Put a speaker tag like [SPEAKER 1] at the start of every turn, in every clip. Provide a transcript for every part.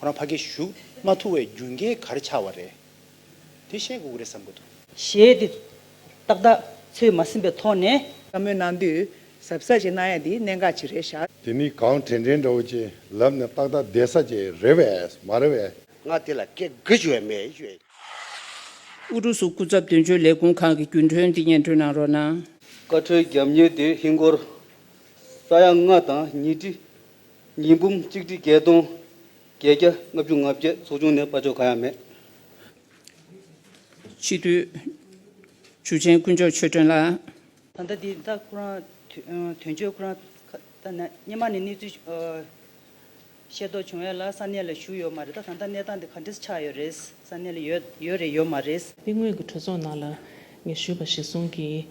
[SPEAKER 1] ཁོ་རང་ཕ་གི་གཞུག་མ་ཐུ་བའི་རྒྱུན་སྐྱེས་གར་ཆགས་བ་རེད། དེ་བཤད་དགོས་ཀྱི་རེད་བསམ་གྱི་འདུག། ཞེས་དེ།
[SPEAKER 2] ཏག་ཏག་ཚོད་མ་ཟིན་པའི་ཐོག་ནས། བསམ་མོལ་གནང་དུས་
[SPEAKER 3] གཟབ་གཟབ་ཅིག་གནང་ཡ་དེ་གནད་འགག་ཅིག་རེད་ཤག། དེ་མི་གང་དྲན་
[SPEAKER 4] དྲན་འདྲ་བོ་ཅིག་ལབ་ནས་ཏག་ཏག་བསྡད་ས་ཅིག་རེད་བས་མ་རེད་བས། ང་དེ་ལ་སྐད་
[SPEAKER 5] དགུ་ཞུ་བས་མེད་ཞུ་བས། ཨུ་
[SPEAKER 6] རུ་སུ་སྐུ་ཚབ་དོན་གཅོད་ལས་ཁུངས་ཁང་གི་རྒྱུན་གྲོན་འདི་སྙན་སྒྲོན་གནང་རོགས་གནང། བཀའ་ཁྲོལ་རྒྱབ་
[SPEAKER 7] གཉེར་དེ་ཧིན་སྒོར་ས་ཡ་ལྔ་དང་ཉིས་ཁྲི་ཉིས་འབུམ་གཅིག་ཁྲི་བརྒྱད་སྟོང་བརྒྱད་བརྒྱ་ལྔ་བཅུ་ང་བརྒྱད་ཚོགས་ཆུང་ནས་དཔའ་ཆོས་གང་ཡང་མེད།
[SPEAKER 6] སྤྱི་འཐུས། ཇུ་ཆེན་དཀོན་མཆོག་ཆོས་སྒྲོན་ལགས། ད་ལྟ་འདི་ད་
[SPEAKER 2] ཁོ་རང་དོན་གཅོད་ཁོ་རང་ད་ནས་སྙེ་མ་ནས་གནས་ཚུལ་ཤེས་རྟོགས་བྱུང་ཡོད་ལ་ས་གནས་ལ་བཞུགས་ཡོད་མ་རེད་ད་ད་ལྟ་གནས་སྟངས་འདི་ག་འདྲས་ཆགས་ཡོད་རེད། ས་གནས་ལ་ཡོད་ཡོད་རེད་ཡོད་མ་རེད། དེ་སྔོན་གྱི་གྲོས་ཚོགས་ནང་ལ་
[SPEAKER 8] ངས་ཞུས་པ་གཞིར་བཟུང་གིས་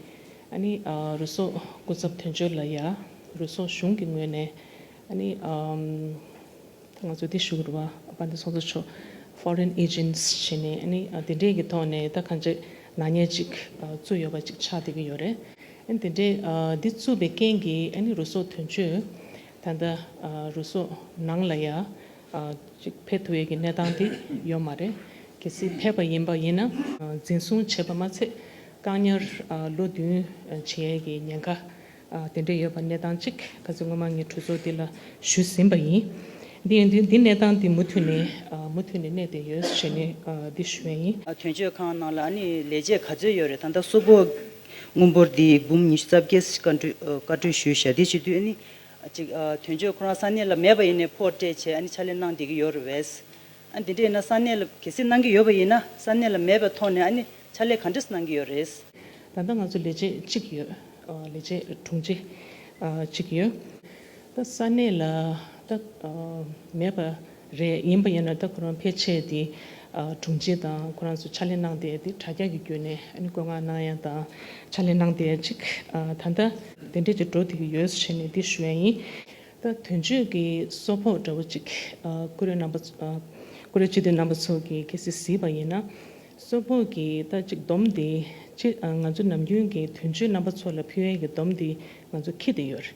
[SPEAKER 8] ཨ་ནི་རུ་སོག་སྐུ་ཚབ་དོན་གཅོད་ལ་ཡ་རུ་སོག་གཞུང་གི་ངོས་ནས་ཨ་ནི་ང་ཚོ་དེ་ཞུ་རུ་བ་པ་འདི་སོ་སོ་ཆོག Foreign Agents བྱས་ནས་ཨ་ནི་དེ་འདྲས་ཀྱི་ཐོག་ནས་ད་ག་འདྲས་ནག་ཉེས་ཅིག་བཙུགས་ཡོད་པ་ཅིག་ཆགས་བསྡད་ཀྱི་ཡོད་རེད། ཨ་ནི་དེ་འདྲས་འདི་བཙུགས་པའི་རྐྱེན་གྱིས་ཨ་ནི་རུ་སོག་དོན་གཅོད་ད་ལྟ་རུ་སོག་ནང་ལ་ཡ་གཅིག་ཕེབས་ཐུབ་ཡས་ཀྱི་གནས་སྟངས་དེ་ཡོད་མ་རེད། གལ་སྲིད་ཕེབས་པ་ཡིན་པ་ཡིན་ན། འཛིན་བཟུང་བྱས་པ་མ་ཚད་བཀག་ཉར་ལོ་བདུན་བྱེད་ཡས་ཀྱི་ཉེན་ཁ་དེ་འདྲ་ཡོད་པ་གནས་སྟངས་གཅིག་གལ་སྲིད་སྔོན་མ་ངས་གྲོས་ཚོགས་འདི་ལ་ཞུས་ཟིན་པ་ཡིན། དེ་ཡིན་དུས་འདི་གནས་སྟངས་འདི་མུ་མཐུད་ནས་མུ་མཐུད་ནས་གནས་བསྡད་ཡོད་ཞེས་ནས་འདི་ཞུས་ཡས་ཡིན། དོན་གཅོད་ཁང་ནང་
[SPEAKER 2] ལ་ནི་ལས་བྱེད་ག་ཚོད་ཡོད་རེད་ད་ལྟ་སོག་པོ་དངུལ་འབོར་འདི་འབུམ་ཉི་ཤུ་རྩ་བརྒྱད་བཀའ་འཁྲོལ་ཞུས་ཞག་འདི་བྱེད་དུས་ནི། ཅིག། དོན་གཅོད་ཁོ་རང་ས་གནས་ལ་མེད་པ་ཡིན་ནས་ཕོར་སྤྲད་ཆེད་ཨ་ནི་ཕྱག་ལས་གནང་བསྡད་ཀྱི་ཡོད་རེད་བས། ཨ་ནི་དེ་འདྲ་ཡིན་ན་ས་གནས་ལ་གལ་སྲིད་གནང་གི་ཡོད་པ་ཡིན་ན་ས་གནས་ལ་མེད་པའི་ཐོག་ནས་ཨ་ནི་ཕྱག་ལས་ག་འདྲས་སུ་གནང་གི་ཡོད་རེད། ད་ལྟ་ང་ཚོ་ལས་བྱེད་
[SPEAKER 8] གཅིག་ཡོད། ལས་བྱེད་དྲུང་ཆེ་གཅིག་ཡོད། ད་ས་གནས་ལ་ད་མེད་པ། རེད་ཡིན་པ་ཡིན་ན་ད་ཁོ་རང་ཕལ་ཆེར་དེ་དྲུང་ཆེ་དང་ཁོ་རང་ཚོ་ཕྱག་ལས་གནང་སྟེ་དེ་དྲ་རྒྱ་གི་བརྒྱུད་ནས་ཨ་ནི་བཀོད་མངགས་གནང་ཡ་དང་ཕྱག་ལས་གནང་སྟེ་ཅིག་ད་ལྟ་དེ་འདྲས་ཀྱི་འགྲོ་དེ་གི་ཡོད་བྱས་ནས་དེ་ཞུ་ཡ་ཡིན། ད་དོན་གཅོད་ཀྱི་སོ་ཕོག་འདྲ་བོ་ཅིག་ཀུ་རེ་རྣམ་པ་ཀུ་རེ་སྤྱི་འཐུས་རྣམ་པ་ཚོ་གི་གལ་སྲིད་གཟིགས་པ་ཡིན་ན་སོ་ཕོག་གི་ད་ཅིག་སྡོམ་དེ་སྤྱི་ང་ཚོ་ནམ་རྒྱུན་གྱི་དོན་གཅོད་རྣམ་པ་ཚོ་ལ་ཕུལ་ཡ་གི་སྡོམ་དེ་ང་ཚོ་ཁྱི་དེ་ཡོད།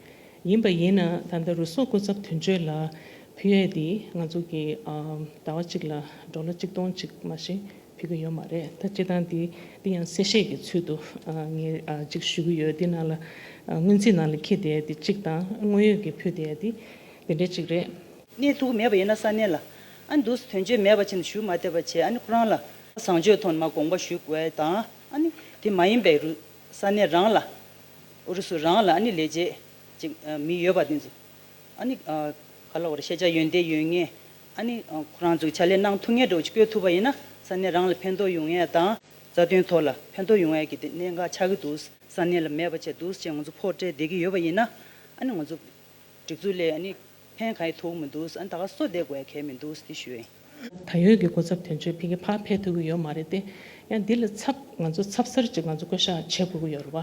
[SPEAKER 8] ཡིན་པ་ཡིན་ན་ད་ལྟ་རུ་སོག་སྐུ་ཚབ་དོན་གཅོད་ལ་ཕུལ་ཡས་དེ་ང་ཚོ་གི་ཟླ་བ་གཅིག་ལ་འགྲོ་ལོ་གཅིག་སྟོང་གཅིག་མ་གཞི་ཕུལ་གི་ཡོད་མ་རེད་ད་སྤྱི་དང་དེ་དེ་ཡང་གསལ་བཤད་ཀྱི་ཚུལ་དུ་ངས་གཅིག་ཞུ་གི་ཡོད་དེ་ནང་ལ་སྔོན་རྩིས་ནང་ལ་ཁྱེར་དེ་དེ་གཅིག་དང་དངོས་ཡོད་ཀྱི་ཕུལ་དེ་དེ་དེ་འདྲ་གཅིག་རེད། གནས་ཐུག་མེད་པ་
[SPEAKER 2] ཡིན་ན་ས་གནས་ལ་ཨ་འདུག་སི་དོན་གཅོད་མེད་པ་ཆེ་ན་ཞུ་མ་ཐེབས་པ་བྱས་ཨ་ནི་ཁོ་རང་ལ། བཟང་སྤྱོད་ཐོག་ནས་མ་དགོངས་པ་ཞུ་དགོས་དང་ཨ་ནི་དེ་མ་ཡིན་པའི་རུ་ས་གནས་རང་ལ། ཨུ་རུ་སུ་རང་ལ་ཨ་ནི་ལས་བྱེད་ཅིག་མི་ཡོད་པ་དེ་ཚོ་ཨ་ནི་ག་ལ་བར་ཤེས་བྱ་ཡོན་ཏན་ཡོད་ངེས་ཨ་ནི་ཁོ་རང་ཚོའི་ཕྱག་ལས་གནང་ཐུབ་ངེས་འགྲོ་བཅོལ་ཐུབ་པ་ཡིན་ན་ས་གནས་རང་ལ་ཕན་ཐོག་ཡོང་ངེས་དང་རྩ་དོན་ཐོག་ལ་ཕན་ཐོག་ཡོང་ངེས་ཀྱི་དེ་གནད་འགག་ཆགས་ཀྱི་འདུག་ས་གནས་ལ་མེད་པ་བྱས་འདུག་ཅེས་ང་ཚོ་ཕོག་སྤྲད་བསྡད་ཀྱི་ཡོད་པ་ཡིན་ན་ཨ་ནི་ང་ཚོ་སྒྲིག་འཛུགས་ལས་ཨ་ནི་ཕན་ག་ཡི་ཐོག་མི་འདུག་ཨ་ནི་ད་ག་སོ་བསྡད་དགོས་གལ་མི་འདུག་དེ་ཞུ་ཡིན། ད་ཡོད་ཀྱི་གོ་
[SPEAKER 8] ཚབ་དོན་གཅོད་ཕལ་གྱི་ཕ་འཕེལ་ཐུབ་ཀྱི་ཡོད་མ་རེད་དེ། ཡང་འདི་ལ་ཚབ་ང་ཚོ་ཚབ་གསར་གཅིག་ང་ཚོ་བསྐོ་གཞག་བྱེད་དགོས་ཀྱི་ཡོད་རེད་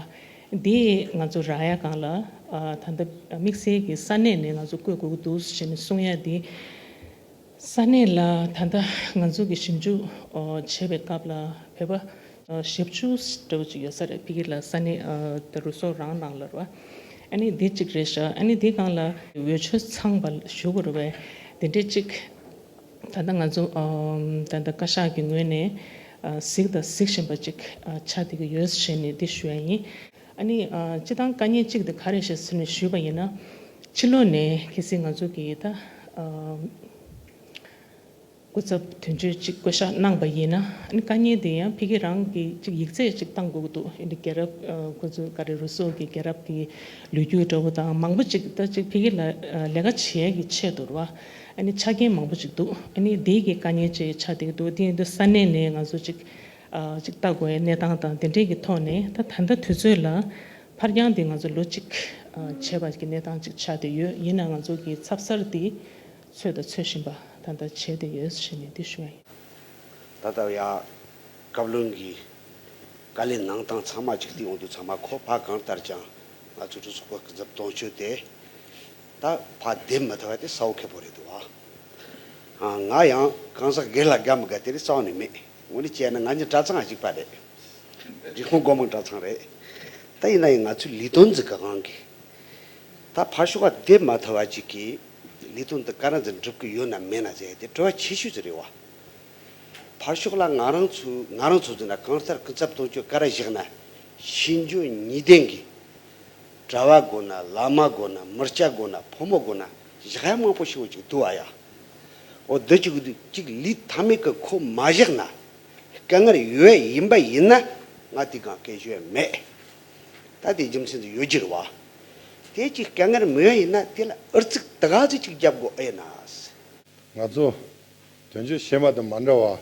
[SPEAKER 8] བ། དེ་ང་ཚོ་རག་ཡ་གང་ལ་ད་ལྟ་དམིགས་བསལ་གྱི་ས་གནས་ནས་ང་ཚོ་བསྐོས་དགོས་ཀྱི་འདུག་ཞེས་ནས་གསུང་ཡ་དེ། ས་གནས་ལ་ད་ལྟ་ང་ཚོ་གི་ཞིབ་འཇུག་བྱེད་པའི་སྐབས་ལ་བོད་པ་ཞབས་བཅུ་དྲུག་ཅིག་ཡོད་ས་རེད་ཕི་གི་ལ་ས་ནི་དེ་རུ་སོ་རང་ནང་ལར་བ་ཨ་ནི་དེ་ཅིག་རེད་ཤག་ཨ་ནི་དེ་གང་ལ་འོས་ཆོས་ཚང་བ་ཞུ་དགོས་རེད་བས་དེ་འདྲས་ཅིག་ད་ལྟ་ང་ཚོ་ད་ལྟ་བཀའ་ཤག་གི་ངོས་ནས་གཟིགས་དང་གཟིགས་བཞིན་པ་ཅིག་ཆགས་བསྡད་ཀྱི་ཡོད་ཞེས་ནས་དེ་ཞུ་ཡ་ཡིན་ཨ་ནི་སྤྱི་བཏང་བཀའ་ཉན་ཅིག་དེ་ག་རེད་ཞེས་ནས་ཞུས་པ་ཡིན་ན་ཕྱི་ལོ་ནས་གལ་སྲིད་ང་ཚོ་གི་ད། སྐུ་ཚབ་དོན་གཅོད་གཅིག་བསྐོ་བཞག་གནང་བ་ཡིན་ན་དཀའ་ཉེན་དེ་ཡང་ཕི་གེ་རང་གིས་གཅིག་ཡིག་ཚད་གཅིག་བཏང་དགོས་ཀྱི་འདུག་ཨིན་དི་རྒྱལ་རབས་ཁོ་ཚོའི་ཀ་རེ་རུ་སོགས་ཀྱི་རྒྱལ་རབས་ཀྱི་ལོ་རྒྱུས་འདྲ་བོ་དང་མང་པོ་གཅིག་ད་ཅིག་ཕི་གེ་ལ་ལས་ཀ་བྱེད་ཡས་ཀྱི་ཆེད་དུར་བ་ཨ་ནི་ཆ་རྐྱེན་མང་པོ་གཅིག་འདུག་ཨ་ནི་དེའི་གི་དཀའ་ཉེན་བཅས་ཆ་འདེགས་འདུག་དེ་ཡིན་དུ་ས་གནས་ནས་ང་ཚོ་གཅིག་གཅིག་བལྟ་དགོས་ཡས་གནས་སྟངས་དང་དེ་འདྲས་ཀྱི་ཐོག་ནས་ད་ད་ལྟ་དུས་ཚོད་ལ་ཕར་འགྱངས་དེ་ང་ཚོ་ལོ་གཅིག་བྱས་པ་གི་གནས་སྟངས་གཅིག་ཆ་དེ་ཡོད་ཡིན་ན་ང་ཚོ་གི་ཚབ་གསར་དེ་ཚོད་དང་ཚོད་བཞིན་པ་ད་ལྟ་བྱས་ཏེ་ཡོད་ཞེས་ནན་ཏིག་ཞུ་བ་ཡིན། ད་ལྟར་
[SPEAKER 5] ཡང་བཀའ་བློན་གྱི་བཀའ་ལས་གནང་སྟངས་ཚང་མ་གཅིག་མཐུན་ཡོང་དུས་ཚང་མ་ཁོ་ཕག་གང་ལྟར་ཀྱང་ང་ཚོའི་གྲོས་ཚོགས་པ་ཀུན་ཚབ་གཏོང་ཆོས་དེ་ད་ཕག་བདེ་མི་ཐུབ་པ་དེ་ས་བོ་ཁེ་བོ་རེད་འདུག་བ། ང་ཡང་གང་ཟག་སྒེར་ལ་དགའ་མི་དགའ་དེ་རིགས་རྩ་བ་ནས་མེད། ངོ་ནས་བྱས་ན་ང་གཉིས་གྲྭ་ཚང་གཅིག་པ་རེད། རི་ཁོང་སྒོ་མང་གྲྭ་ཚང་རེད། ད་ཡིན་ན་ཡང་ང་ཚོའི་ལས་དོན་འཛིན་གང་གི་ད་ཕག་ཤོག་ཁ་བདེ་མ་ཐུབ་བ་ཅིག་གིས་ལས་དོན་འདི་ག་རང་ཚོས་འགྲུབ་གི་ཡོད་ན་མེད་ན་བཅས་དེ་གྲོས་བ་ཆེ་ཤོས་ཚོ་རེད་བ། ཕར་ཕྱོགས་ལ་ང་རང་ཚོས་ང་རང་ཚོ་ཚོ་ན་གང་ལྟར་སྐུ་ཚབ་གཏོང་སྤྱོད་ག་ར་བཞག་ན་ཤེས་འཇོན་གཉིས་ལྡན་གི་གྲྭ་བ་དགོས་ན་བླ་མ་དགོས་ན་མི་སྐྱ་དགོས་ན་ཕོ་མོ་དགོས་ན་བཞག་ཡ་མང་པོ་ཞིག་འོ་ཅིག་འདུག་བ་ཡ། འོ་འདི་ཅིག་འདུག་ཅིག་ལུས་མཐའ་མེད་གི་ཁོ་མ་བཞག་ན་སྐད་ངར་ཡོད་ཡིན་པ་ཡིན་ན་ང་དེ་གང་སྐད་ཤོད་ཡ་མེད། ད་དེའི་རྒྱུ་མཚན་དུ་ཡོད་རྒྱུར་བ། དེ་ཅིག་སྐད་ངར་མོ་ཡིན་ན་དེ་ལ་ཨུར་ཚིག་དགག་གཟིགས་ཅིག་བརྒྱབ་དགོས་ཨེ་ན། ང་ཚོ།
[SPEAKER 4] དོན་གཅོད་བྱེད་མ་དང་མ་འདྲ་བ།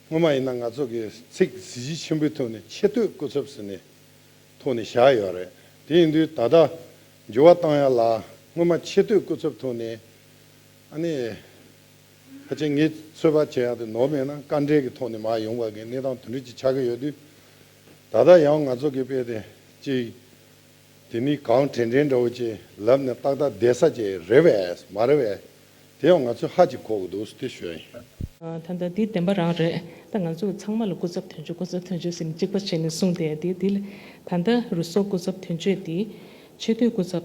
[SPEAKER 4] སྔོན་མ་ཡིན་ན་ང་ཚོ་གི་ཚིག་གཟི་བརྗིད་ཆེན་པོའི་ཐོག་ནས་ཆེ་བསྟོད་སྐུ་ཚབ་ཟེར་ནས་ཐོག་ནས་བཞག་ཡོད་རེད་དེ་ཡིན་དུས་ད་ལྟ་འགྱུར་བ་བཏང་ཡག་ལ་སྔོན་མ་ཆེ་བསྟོད་སྐུ་ཚབ་ཐོག་ནས་ཨ་ནི། ཕལ་ཆེར་ངས་ཚོད་དཔག་བྱས་ཡག་དུས་ནོར་མེད་ན་དཀའ་འགྲེལ་གི་ཐོག་ནས་མ་ཡོང་བ་གི་གནས་སྟངས་དོན་འགྲིག་ཅིག་ཆགས་ཀྱི་ཡོད་དུས། ད་ལྟ་ཡང་ང་ཚོ་གི་དཔེ་དེ་གཅིག། དེ་ནི་གང་དྲན་དྲན་འདྲ་བོ་ཅིག་ལབ་ནས་ཏག་ཏག་བསྡད་ས་ཅིག་རེད་བས་མ་རེད་བས། དེ་ཡང་ང་ཚོས་ཧ་ཅིག་གོ་གི་འདུག་སྟེ་ཞོལ་ཡིན། ད་ལྟ་དེ་
[SPEAKER 8] བདེན་པ་རང་རེད། ད་ང་ཚོ་ཚང་མ་ལ་སྐུ་ཚབ་དོན་གཅོད་སྐུ་ཚབ་དོན་གཅོད་ཟེར་ནས་གཅིག་པ་བྱས་ནས་གསུངས་བསྡད་དེ་དེ་ལ་ད་ལྟ་རུ་སོགས་སྐུ་ཚབ་དོན་གཅོད་དེ། ཆེས་མཐོའི་སྐུ་ཚབ།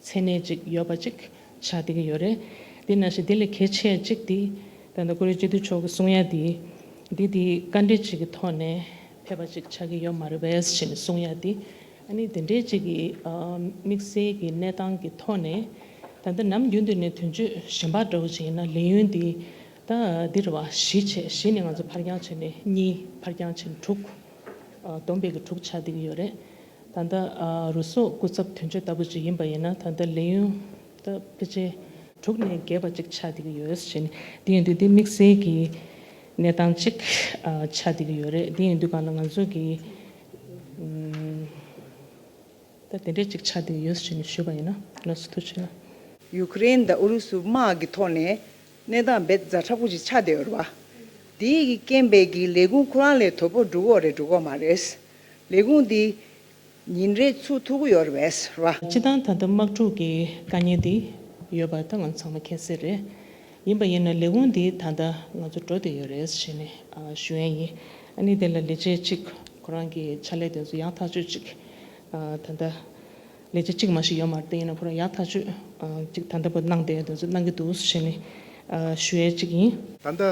[SPEAKER 8] མཚན་གནས་ཅིག་ཡོད་པ་ཅིག་བྱ་བསྡད་ཀྱི་ཡོད་རེད། དེ་ནང་བཞིན་དེ་ལས་གལ་ཆེ་གཅིག་དེ། ད་ལྟ་ཀུ་རེ་སྤྱི་འཐུས་མཆོག་གི་གསུང་ཡ་དེ། དེ་དེའི་བཀའ་འབྲེལ་ཅིག་གི་ཐོག་ནས་ཕེབས་པ་ཅིག་ཆགས་ཀྱི་ཡོད་མ་རེད་བས་ཞེས་ནས་གསུང་ཡ་དེ། ཨ་ནི་དེ་འདྲའི་ཅིག་གི་དམིགས་བསལ་གྱི་གནས་སྟངས་ཀྱི་ཐོག་ནས། ད་ལྟ་ནམ་རྒྱུན་དུ་ནས་དོན་གཅོད་གཞན་པ་འདྲ་བོ་ཅིག་ཡིན་ན་ལས་ཡུན་དེ། ད་འདིར་བ་བཞི་བྱས་བཞི་ནས་ང་ཚོ་ཕར་འགྱངས་བྱས་ནས་གཉིས་ཕར་འགྱངས་བྱས་ནས་དྲུག། བསྡོམས་པས་ཀྱི་དྲུག་ཆགས་བསྡད་ཀྱི་ཡོད་རེད། ད་ལྟ་རུ་སོག་སྐུ་ཚབ་དོན་གཅོད་ལྟ་བུ་ཞིག་ཡིན་པ་ཡིན་ན་ད་ལྟ་ལས་ཡུན་ད་ཕལ་ཆེར། དྲུག་ནས་བརྒྱད་པ་ཅིག་ཆགས་བསྡད་ཀྱི་ཡོད་རེད། དེ་ཡིན་དུས་འདི་དམིགས་བསལ་གྱི་གནས་སྟངས་ཅིག་ཆགས་བསྡད་ཀྱི་ཡོད་རེད། དེ་ཡིན་དུས་གང་ལ་ང་ཚོས་ཀྱི་ད་དེ་འདྲས་ཅིག་ཆགས་བསྡད་ཀྱི་ཡོད་ཞེས་ཞུས་པ་ཡིན་ན་ལོགས་སུ་ཐུགས་ཆེ། ཡུ་ཀེ་རེན་དང་
[SPEAKER 3] ཨུ་རུ་སུ་དམག་གི་ཐོག་ནས་གནས་སྟངས་འབད་རྩ་ཁྲག་པོ་ཞིག་ཆགས་བསྡད་ཡོད་རེད་བ། དེའི་རྐྱེན་འབད་ཀྱིས་ལས་ཁུངས་ཁོ་རང་ལས་དོ་པོ་འགྲུག་འོག་རེད་འགྲུག་འོག་མ་རེད། ལས་ཁུངས་འདི། ཉིན་རེའི་ཚུགས་ཐུག་གུ་ཡོར་བས་ར། སྤྱི་བཏང་ད་ལྟ་དམག་འཁྲུག་
[SPEAKER 8] གི་དཀའ་ཉེན་འདི་ཡོད་པ་ད་ང་ཚོ་ཚང་མ་མཁྱེན་གསལ་རེད། ཡིན་པ་ཡིན་ན་ལས་ཁུངས་འདི་ད་ལྟ་ང་ཚོ་འགྲོ་བསྡད་ཡོད་རེད་ཞེས་ནི་ཞུ་ཡན་ཡིན། ཨ་ནི་དེ་ལ་ལས་བྱེད་ཅིག་ཁོ་རང་གི་ཕྱག་ལས་དེ་ཚོ་ཡག་ཐག་གཅོད་ཅིག་ད་ལྟ། ལས་བྱེད་ཅིག་མ་ཞིག་ཡོད་མ་རེད་དེ་ཡིན་ན་ཁོ་རང་ཡག་ཐག་གཅོད་ཅིག་ད་ལྟ་བ་གནང་བསྡད་དེ་ཚོ་གནང་གི་འདུག་ཞེས་ནི་ཞུ་ཡས་ཅིག་ཡིན། ད་ལྟ།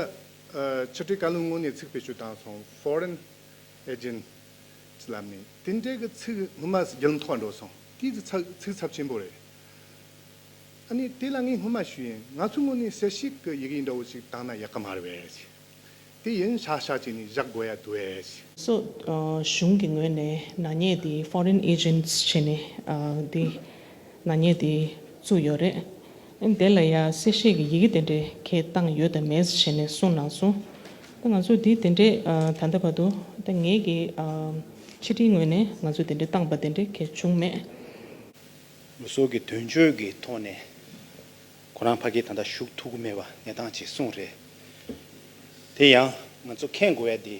[SPEAKER 4] ཕྱི་དྲིལ་བཀའ་བློན་དངོས་གནས་ཚིག་བེད་སྤྱོད་བཏང་སོང foreign། ཨེ་ཇིན། ཅི་ལབ་ནི། དེ་འདྲའི་གི་ཚིག་ངུ་མ་སི་རྒྱལ་ལ་འཐོག་འགྲོ་སོང་དེའི་གི་ཚག་ཚིག་ཚབ་ཆེན་པོ་རེད། ཨ་ནི་དེ་ལ་ངས་སྔོན་མ་ཞུས་ཡིན་ང་ཚོའི་སྔོན་ནས་གསལ་བཤད་གི་ཡི་གེ་འདྲ་བོ་ཞིག་བཏང་ན་ཡག་གི་མ་རེད་བས། དེ་ཡིན་ཤག་ཤག་བྱས་ནས་བཞག་དགོས་ཡ་འདུག་བས། སོགས།
[SPEAKER 8] གཞུང་གི་ངོས་ནས་ནག་ཉེས་དེ Foreign Agents བྱས་ནས་དེ་ནག་ཉེས་དེ་བཙུགས་ཡོད་རེད། དེ་ལ་ཡང་གསལ་བཤད་ཀྱི་ཡི་གེ་དེ་འདྲའི་ཁའི་གཏང་ཡོད་དམ་མེད་ཞེས་ནས་གསུངས་གནང་སོང། ད་ང་ཚོས་དེ་དེ་འདྲའི་ད་ལྟ་བར་དུ་ད་ངེད་ཀྱི་ཕྱི་དྲིལ་ངོས་ནས་ང་ཚོས་དེ་འདྲའི་གཏང་པ་དེ་འདྲའི་ཁའི་བྱུང་མེད།
[SPEAKER 1] ལུས་སྲོག་གི་དོན་གཅོད་ཀྱི་ཐོག་ནས་ཁོ་རང་ཕ་སྐད་ད་ལྟ་ཞུགས་ཐུག་གི་མེད་པ་གནས་སྟངས་གཅིག་གསུངས་རེད། དེ་ཡང་ང་ཚོ་མཁྱེན་དགོས་ཡ་དེ་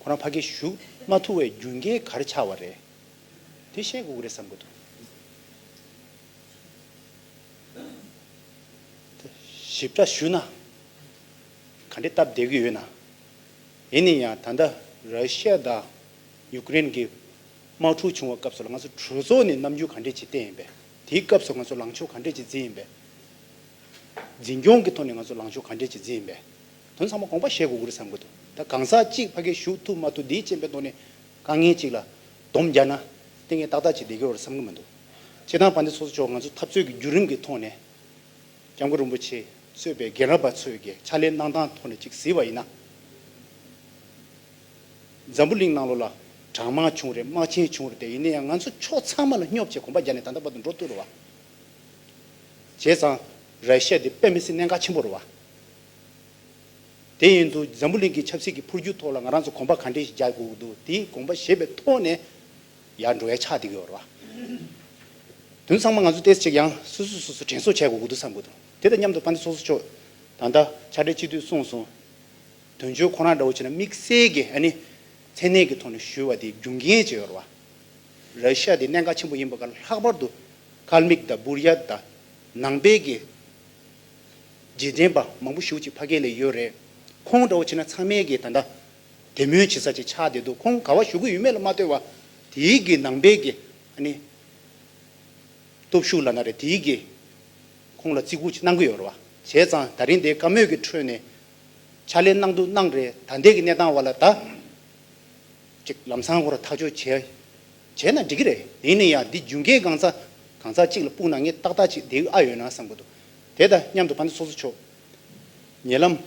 [SPEAKER 1] ཁོ་རང་ཕ་སྐད་ཞུགས་མ་ཐུག་བའི་རྒྱུ་འགལ་ག་རེ་ཆགས་བ་རེད་དེ་བཤད་དགོས་ཀྱི་རེད་བསམ་གྱི་འདུག། ཞིབ་ཕྲ་ཞུས་ན། ག་འདྲའི་སྟབས་བདེ་གི་ཡོད་ན། ཡིན་ནས་ཡང་ད་ལྟ་ར་ཤི་ཡ་དང་ཡུ་ཀེ་རེན་གི་དམག་འཁྲུག་བྱུང་བ་སྐབས་སུ་ལ་ང་ཚོ་གྲོས་ཚོགས་ནས་རྣམ་འགྱུར་ག་འདྲས་ཇི་བསྟན་ཡིན་པས་དེའི་སྐབས་སུ་ང་ཚོ་ལངས་ཕྱོགས་ག་འདྲས་ཇི་འཛིན་ཡིན་པས། འཛིན་སྐྱོང་གི་ཐོག་ནས་ང་ཚོ་ལངས་ཕྱོགས་ག་འདྲས་ཇི་འཛིན་ཡིན་པས། དོན་ཚང་མ་དགོངས་པ་བཞེས་དགོས་ཀྱི་རེད་བསམ་གྱི་འདུག་ད་གང་ཟག་གཅིག་ཕ་གིའི་བཞུགས་ཐུབ་མ་ཐུབ་དེའི་རྐྱེན་པས་ཐོག་ནས་དཀའ་ངལ་ཅིག་ལ་སྡོམ་རྒྱག་ན་དེ་ངས་ཏག་ཏག་ཅིག་ལས་ཀྱི་བར་བསམ་གྱི་མི་འདུག་སྤྱིར་བཏང་བ་འདི་ཚོ་ཚོ་ཆོག་ང་ཚོ་འཐབ་རྩོད་ཀྱི་བརྒྱུད་རིམ་གྱི་ཐོག་ནས་སྐྱབས་མགོན་རིན་པོ་ཆེས་གཙོས་པའི་རྒན་རབས་པ་ཚོས་ཀྱི་ཕྱག་ལས་གནང་སྟངས་ཐོག་ནས་ཅིག་གཟིགས་པ་ཡིན་ན། འཛམ་བུ་གླིང་ནང་ལོ་ལ་གྲངས་མང་བྱུང་རེད་དམག་ཆེན་བྱུང་རེད་ཡིན་ན་ཡང་ང་ཚོ་ཕྱོགས་ཚང་མ་ལ་སྙོབ་ཅེས་གོམ་པ་རྒྱག་ནས་ད་ལྟ་བར་དུ་འགྲོ་བཏུལ་རུ་བ་བྱས་ཙང་ར་ཤ་ཡ་འདི་དཔེ་མི་སྲིད་གནད་འགག་ཆེན་པོ་རུ་བ། དེ་ཡིན་དུ་འཛམ་བུ་གླིང་གི་ཆབ་སྲིད་ཀྱི་འཕུར་སྒྱུར་ཐོག་ལ་ང་རང་ཚོ་དགོངས་པ་ག་འདྲས་ཤིག་རྒྱག་དགོས་ཀྱི་འདུག་དེའི་དགོངས་པ་ཞེས་པའི་ཐོག་ནས་ཡར་འགྲོ་ཡ་ཆགས་བསྡད་ཀྱི་ཡོད་རེད་པ། དོན་ཚང་མ་ང་ཚོ་ཏེས་ཅིག་ཡང་སོ་སོས་སོ་སོ་དྲན་གསོ་བྱས་དགོས་ཀྱི་འདུག་བསམ་དགོས་འདུག་དེ་དང་མཉམ་དུ་པཎྜི་ཚོགས་གཙོ་མཆོག་ད་ལྟ་ཕྱག་སྦྲེལ་སྤྱི་འཐུས་གསུངས་སོང། དོན་གཅོད་ཁོ་རང་འདྲ་བོ་བྱས་ན་དམིགས་བསལ་གྱི་ཨ་ནི་མཚན་གནས་ཀྱི་ཐོག་ནས་ཞུ་བ་དེ་རྒྱུ་འགན་བྱས་ཡོད་རེད་པ། ར་ཤི་ཡ་དེ་གནད་འགག་ཆེན་པོ་ཡིན་པ་ཁར་ལྷག་པར་དུ་ཀལ་མིག་དང་སྦུར་ཡ་དང་ནང་པའི་གི། རྗེས་དྲན་པ་མང་པོ་བཞུགས་ཅིག་ཕ་སྐད་ལས་ཡོད་རེད། ཁོང་འདྲ་བོ་ཆེ་ན་ཚང་མའི་སྐད་ད་འདྲ། དད་མོས་བྱེད་ས་ཅིག་ཆགས་བསྡད་འདུག་ཁོང་ག་བ་ཞུ་གི་ཡོད་མེད་ལ་མ་ལྟོས་བ། དེའི་དགེ་ནང་པའི་དགེ། ཨ་ནི། སྟོབས་ཤུགས་ལ་ན་རེ་དེའི་དགེ། ཁོང་ལ་བརྩི་བཀུར་ཅིག་གནང་གི་ཡོད་རེད་བ། བྱས་ཙང་ད་རིང་འདའི་བཀའ་མོས་ཀྱི་ཁྲོད་ནས། ཕྱག་ལས་གནང་འདུག་གནང་རེད་ད་འདས་ཀྱི་གནས་སྟངས་བ་ལ་ད། ཅིག་ལམ་སང་སྐོར་ཐག་གཅོད་བྱས། བྱས་ན་འགྲིག་གི་རེད་ཡིན་ནའི་ཡང་འདི་རྒྱུན་སྐད་གང་ཚ། གང་ཚ་གཅིག་ལ་སྤུག་ན་ངས་ཏག་ཏག་ཅིག་འདས་གི་ཨ་ཡོད་ན་བསམ་གི་འདུག་དེ་དང་མཉམ་དུ་བྷནྡྷ་སོ་སོ་མཆོག། ཉེ་ལམ་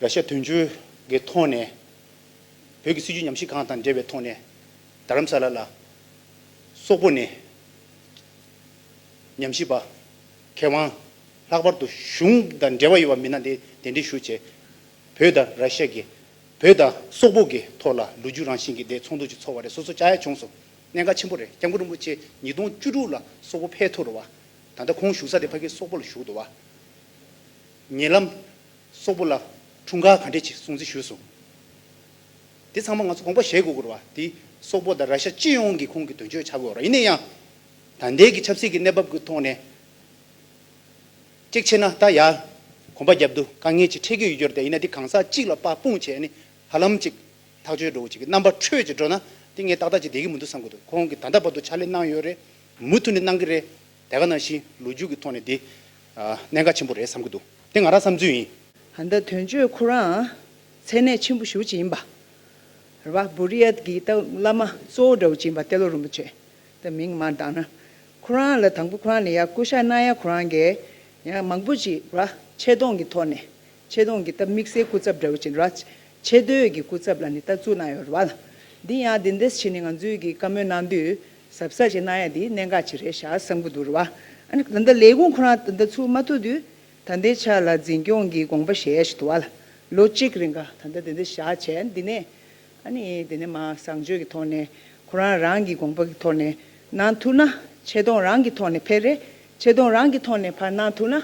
[SPEAKER 1] ར་ཤ་དུས་མཆོད་ཀྱི་ཐོག་ནས། བོད་ཀྱི་སྲིད་བྱུས་ཉམས་ཞིབ་ཁང་དང་འབྲེལ་བའི་ཐོག་ནས། རྡ་རམ་ས་ལ་ལ་སོག་པོ་ནས། ཉམས་ཞིབ་པ་མཁས་དབང་ལྷག་པར་དུ་གཞུང་དང་འབྲེལ་བ་ཡོད་པ་མི་སྣ་དེ་གདན་འདྲེན་ཞུ་ཆེད། བོད་དང་ར་ཤ་གི། བོད་དང་སོག་པོ་གི་ཐོག་ལ་ལོ་རྒྱུས་རང་བཞིན་གྱི་དེ་ཚོགས་འདུ་ཅིག་ཚོགས་བ་རེད་སོ་སོ་བཅའ་ཡ་བྱུང་སོང། གནད་འགག་ཆེན་པོ་རེད་སྐྱབས་མགོན་རིན་པོ་ཆེ་ཉིས་སྟོང་བཅུ་དྲུག་ལ་སོག་པོ་ཕལ་ཐོར་བ། ད་ལྟ་ཁོང་བཞུགས་ས་དེ་ཕ་གིའི་སོག་པོ་ལ་བཞུགས་འདུག་བ། ཉེ་ལམ། སོག་པོ་ལ། འཁྲུངས་སྐར་ག་འདྲས་ཅིག་སྲུང་བརྩི་ཞུས་སོང། དེ་ཚང་མ་ང་ཚོ་དགོངས་པ་བཞེས་དགོས་སྐོར་བ། དེ་སོག་པོ་དང་ར་ཤ་སྤྱི་ཡོངས་ཀྱིས་ཁོང་གི་དོན་གཅོད་བྱ་དགོས་ར་ཡིན་ན་ཡང། ད་ལྟའི་གི་ཆབ་སྲིད་ཀྱི་གནས་བབ་ཀྱི་ཐོག་ནས། གཅིག་བྱས་ན་ད་ཡར། གོམ་པ་རྒྱབ་འདུག་དཀའ་ངལ་ཅིག་འཕྲད་ཀྱི་ཡོད་རྒྱུར་དེ་ཡིན་ན་དེ་གང་ཟག་གཅིག་ལ་དཔག་དཔུང་བྱས་ནས་ཧ་ལམ་ཅིག། ཐག་གཅོད་འགྲོ་འོ་ཅིག་གི་རྣམ་པ་འཕྲོད་ཅིག་འགྲོ་ན་དེ་ངས་ཏག་ཏག་ཅིག་བསྡད་ཀྱི་མི་འདུག་བསམ་གྱི་འདུག་ཁོང་གིས་ད་ལྟ་བར་དུ་ཕྱག་ལས་གནང་ཡོད་རེད། མུ་མཐུད་ནས་གནང་གི་རེད། དེ་ག་ནང་བཞིན་ལོ་རྒྱུས་ཀྱི་ཐོག་ནས་དེ། གནད་འགག་ཆེན་པོ་རེད་བསམ་གྱི་འདུག་དེ་ང་རང་བསམ་ཚུལ་ཡིན། ད་ལྟ་དོན་གཅོད་
[SPEAKER 3] ཁོ་རང་ཚད་གནས་ཆེན་པོ་ཞུགས་ཀྱི་ཡིན་པ་རེད་བ། བུ་རི་ཡལ་གྱི་སྟག་བླ་མ་གཙོ་བོ་འདྲ་བོ་ཅིག་ཡིན་པ་ཏེ་ལོ་རིན་པོ་ཆེ་ད་མིང་མ་བཏགས་ན། ཁོ་རང་ལ་དང་པོ་ཁོ་རང་ལ་ཡང་སྐུ་ཤ་གནང་ཡ་ཁོ་རང་གས་ཡང་མང་པོ་ཅིག་བ་ཆེ་མཐོང་གི་ཐོག་ནས་ཆེ་མཐོང་གི་སྟབས་དམིགས་བསལ་སྐུ་ཚབ་འདྲ་བོ་ཅིག་ར། ཆེ་བསྟོད་ཀྱི་སྐུ་ཚབ་ལ་ནི་ལྟ་ཚུལ་གནང་ཡོད་རེད་བ་ལ། འདི་ཡང་འདི་འདེད་བྱེད་ནི་ང་ཚོས་ཀྱིས་བཀའ་མོལ་གནང་དུས་ཟབ་ས་ཞིག་གནང་ཡ་འདི་གནད་འགག་ཅིག་རེད་ཤག་བསམ་གྱི་འདུག་རེད་བ། ད་ལྟ་ལས་ཁུངས་ཁོ་རང་ད་ལྟ་ཚུགས་མ་ཐུབ་དུས་ད་ལྟའི་ཆ་ལ་འཛིན་སྐྱོང་གི་དགོངས་པ་ཞལ་ཞིག་དུ་བ་ལ། ལོ་གཅིག་རིང་ག་ད་ལྟ་དེ་འདྲ་བཞག་བྱས་འདི་ནས། ཨ་ནི་དེ་ནས་མ་བཟང་སྤྱོད་ཀྱི་ཐོག་ནས་ཁོ་རང་རང་གི་དགོངས་པ་གི་ཐོག་ནས་གནང་ཐུབ་ན་ཆེ་མཐོང་རང་གི་ཐོག་ནས་ཕེར་རེ་ཆེ་མཐོང་རང་གི་ཐོག་ནས་ཕར་གནང་ཐུབ་ན།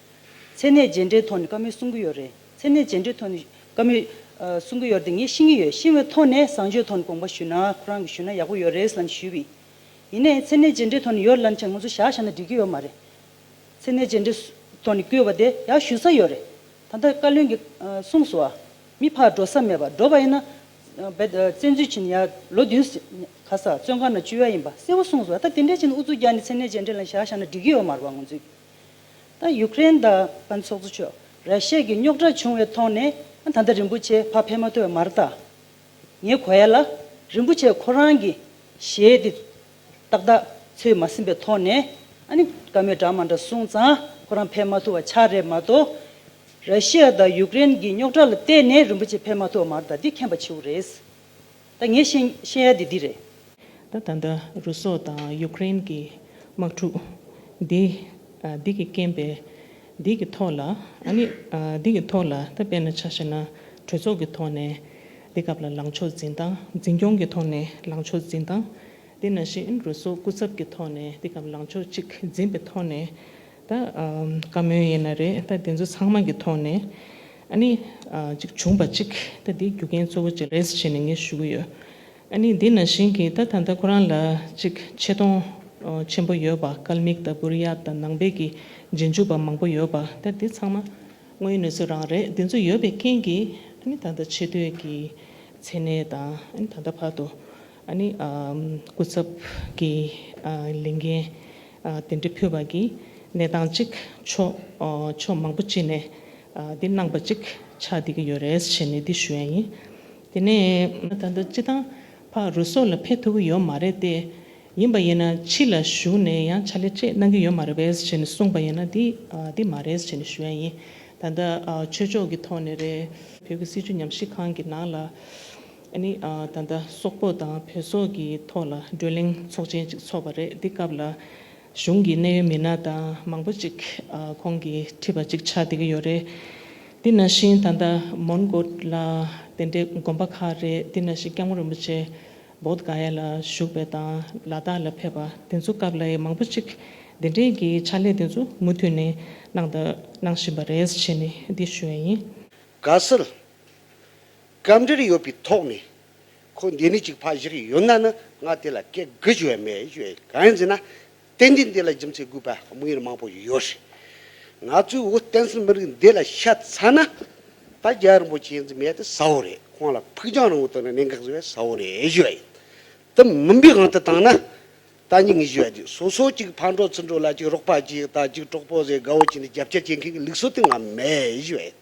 [SPEAKER 2] མཚན་གནས་རྗེས་འབྲེལ་ཐོག་ནས་བཀའ་མོལ་གསུང་གི་ཡོད་རེད། མཚན་གནས་རྗེས་འབྲེལ་ཐོག་ནས་བཀའ་མོལ་གསུང་གི་ཡོད་རེད་དེ་ངས་ཤེས་ཀྱི་ཡོད། ཤེས་བའི་ཐོག་ནས་བཟང་སྤྱོད་ཐོག་ནས་དགོངས་པ་ཞུས་ན་ཁོ་རང་གིས་ཞུས་ན་ཡག་པོ་ཡོད་རེད་ལབ་ཞུས་པས། ཡིན་ནའི་མཚན་གནས་རྗེས་འབྲེལ་ཐོག་ནས་ཡོད་ལབ་མཁན་ང་ཚོ་ཞག་ཞག་ན་འགྲིག་གི་ཡོད་མ་རེད། མཚན་གནས་རྗེས་འབྲེལ་ཐོག་ནས་བསྐྱོད་པ་དེ་ཡག་ཞུ་ས་ཡོད་རེད། ད་ལྟ་བཀའ་བློན་གྱིས་གསུངས་སོ། མི་ཕར་འགྲོ་ས་མེད་པ་འགྲོ་བ་ཡིན་ན། བཙན་འཛུལ་བྱས་ནས་ཡར་ལོ་བདུན་ཟེར། ག་ས་བཙོན་ཁང་ན་བཅུག་ཡ་ཡིན་པ་གསལ་བོ་གསུངས་སོ། ད་དེ་འདྲའི་ཕྱིན་ན་འུ་ཚོ་རྒྱ་ནས་མཚན་གནས་རྗེས་འབྲེལ་ལ་ཞག་ཞག་ན་འགྲིག་གི་ཡོད་མ་རེད་བ་ང་ཚོས། ད་ཡུཀ་རེན་དང་ཚོགས་གཙོ་མཆོག་ར་ཤི་ཡའི་རྙོག་དྲ་བྱུང་བའི་ཐོག་ནས་ད་ལྟ་རིན་པོ་ཆེ་ཕ་ཕེ་མ་ཐོས་མར་ད་ངས་གོ་ཡ་ལ་རིན་པོ་ཆེ་ཁོ་རང་གི་ཞེ་དེ་ཏག་ཏག་ཚོས་མ་ཟིན་པའི་ཐོག་ནས་ཨ་ནི་བཀའ་མོལ་འདྲ་མ་འདྲ་གསུངས་ཙང་ཁོ་རང་ཕེ་མ་ཐུ་བ་ཆགས་རེད་མ་གཏོགས་ར་ཤི་ཡ་དང་ཡུཀ་རེན་གྱི་རྙོག་དྲ་ལ་བལྟས་ནས་རིན་པོ་ཆེ་ཕེ་མ་ཐོས་མར་ད་འདི་མཁྱེན་པ་བྱེའུ་རེད། ད་ངས་ཤེས་ཡ་དེ་འདི་རེད། ད་ད་
[SPEAKER 8] ལྟ་རུ་སོག་དང་ཡུ་ཀེ་རེན་གྱི་དམག་འཁྲུག་འདི་འདི་གི་རྐྱེན་པས་འདི་གི་ཐོག་ལ་ཨ་ནི་འདི་གི་ཐོག་ལ་ད་དཔེ་ན་ཆ་ཤེས་ན་གྲོས་ཚོགས་ཀྱི་ཐོག་ནས་འདི་སྐབས་ལ་ལངས་ཕྱོགས་འཛིན་སྟངས་འཛིན་སྐྱོང་གི་ཐོག་ནས་ལངས་ཕྱོགས་འཛིན་སྟངས་འདི་ན་བཞིན་རུ་སོག་སྐུ་ཚབ་ཀྱི་ཐོག་ནས་འདི་སྐབས་ལངས་ཕྱོགས་གཅིག་འཛིན་པའི་ཐོག་ནས། ད་བཀའ་མོལ་ཡིན་ན་རེད་ད་དེ་ཚོ་ཚང་མ་གི་ཐོག་ནས་ཨཱ་ནི་ཅིག་བྱུང་པ་ཅིག་ད་དེའི་རྒྱུ་རྐྱེན་གཙོ་བོ་ཅིག་རེད་བྱས་ནས་ངས་ཞུ་གི་ཡོད་ཨཱ་ནི་དེ་ན་བཞིན་གི་ད་ད་ལྟ་ཁོ་རང་ལ་ཅིག་ཆེ་མཐོང་ཆེན་པོ་ཡོད་པ་སྐལ་མིག་ལྟ་བུར་གཡག་དང་ནང་པའི་གི་རྗེས་འཇུག་པ་མང་པོ་ཡོད་པ་ད་དེ་ཚང་མ་དངོས་གནས་ཚོ་རང་རེད་དེ་ཚོ་ཡོད་པའི་རྐྱེན་གི་ཨཱ་ནི་ད་ད་ཆེ་བསྟོད་གི་མཚན་གནས་དང་ཨཱ་ནི་ད་ད་བར་དུ་སྐུ་ཚབ་ཀྱི་ལས་འགན་དེ་འདྲ་ཕུལ་བ་གྱིས་གནས་སྟངས་གཅིག་ཕྱོགས་མང་པོ་གཅིག་ནས་འདི་གནང་པ་ཅིག་ཆགས་བསྡད་ཀྱི་ཡོད་རེད་བྱས་ནས་འདི་ཞུ་ཡ་ཡིན། དེ་ནས། ད་ལྟ་སྤྱི་བཏང་ཕ་རོལ་སོགས་ལ་ཕེབས་ཐུབ་ཀྱི་ཡོད་མ་རེད་དེ། ཡིན་པ་ཡིན་ན་ཕྱི་ལ་བཞུགས་ནས་ཡང་ཕྱག་ལས་ཅེས་གནང་གི་ཡོད་མ་རེད་བས་བྱས་ནས་གསུངས་པ་ཡིན་ན་འདི་མ་རེད་བྱས་ནས་ཞུ་ཡ་ཡིན། ད་ལྟ་ཆོས་ཕྱོགས་ཀྱི་ཐོག་ནས་རེད། བོད་ཀྱི་སྲིད་བྱུས་ཉམས་ཞིབ་ཁང་གི་ནང་ལ། ནི་ད་ལྟ་སོག་པོ་དང་བོད་སོག་གི་ཐོག་ལ་བགྲོ་གླེང་ཚོགས་ཆེན་གཅིག་ཚོགས་པ་རེད་དེ་སྐབས་ལ་གཞུང་གི་གནད་ཡོད་མི་སྣ་དང་མང་པོ་ཅིག་ཁོང་གིས་ཁྲིད་པ་ཅིག་ཆགས་བསྡད་ཀྱི་ཡོད་རེད་དེ་ན་བཞིན་ད་ལྟ་མོན་གྷོ་ལ་དེ་འདྲའི་དགོན་པ་ཁག་རེད་དེ་ན་བཞིན་སྐྱབས་མགོན་རིན་པོ་ཆེ་བོད་ག་ཡ་ལ་བཞུགས་པའི་དང་ལ་དྭགས་ལ་ཕེབས་པ་དེ་ཚོ་སྐབས་ལ་ཡི་མང་པོ་ཅིག་དེ་འདྲའི་གི་ཕྱག་ལས་དེ་ཚོ་མུ་མཐུད་ནས་གནང་དང་གནང་བཞིན་པ་རེད་བྱས་ནས་འདི་ཞུ་བ་ཡིན། དགའ་བསུ།
[SPEAKER 5] སྐབས་འདིར་ཡོད་པའི་ཐོག་ནས། ཁོ་འདི་ནས་ཅིག་ཕ་བཞག་གི་ཡོད་ན་ནི་ང་དེ་ལ་སྐད་དགུ་ཞུ་བས་མེད་ཞུ་བས་གང་ཡིན་ཟེར་ན། བསྟན་འཛིན་འདི་ལ་རྒྱུ་མཚན་དགོས་པ་དམིགས་ཡུལ་མང་པོ་ཞིག་ཡོད་རེད། ང་ཚོའི་བོད་བསྟན་སྲིད་མི་རིགས་འདི་ལ་ཤ་ཚ་ན། ད་རྒྱ་རིན་པོ་ཆེ་འཛིན་མེད་དེ་ས་བོ་རེད་ཁོང་ལ་ཕུགས་རྒྱང་རིང་བོ་དོར་ནས་གནད་འགག་བཟོ་བས་ས་བོ་རེད་ཞུ་བ་ཡིན། དེ་མིན་པའི་དབང་དུ་བཏང་ན། ད་ཉིད་ངས་ཞུ་བ་དེ་སོ་སོ་ཅིག་ཕར་འགྲོ་ཚུར་འགྲོ་ལ་ཅིག་རོགས་པ་གྱིས་ད་ཅིག་གྲོགས་པོ་ཟེར་དགའ་བོ་བྱས་ནས་རྒྱབ་སྐྱོར་བྱེད་མཁན་གྱི་ལུགས་སྲོལ་དེ་ང་མེད་ཞུ་བ་ཡིན།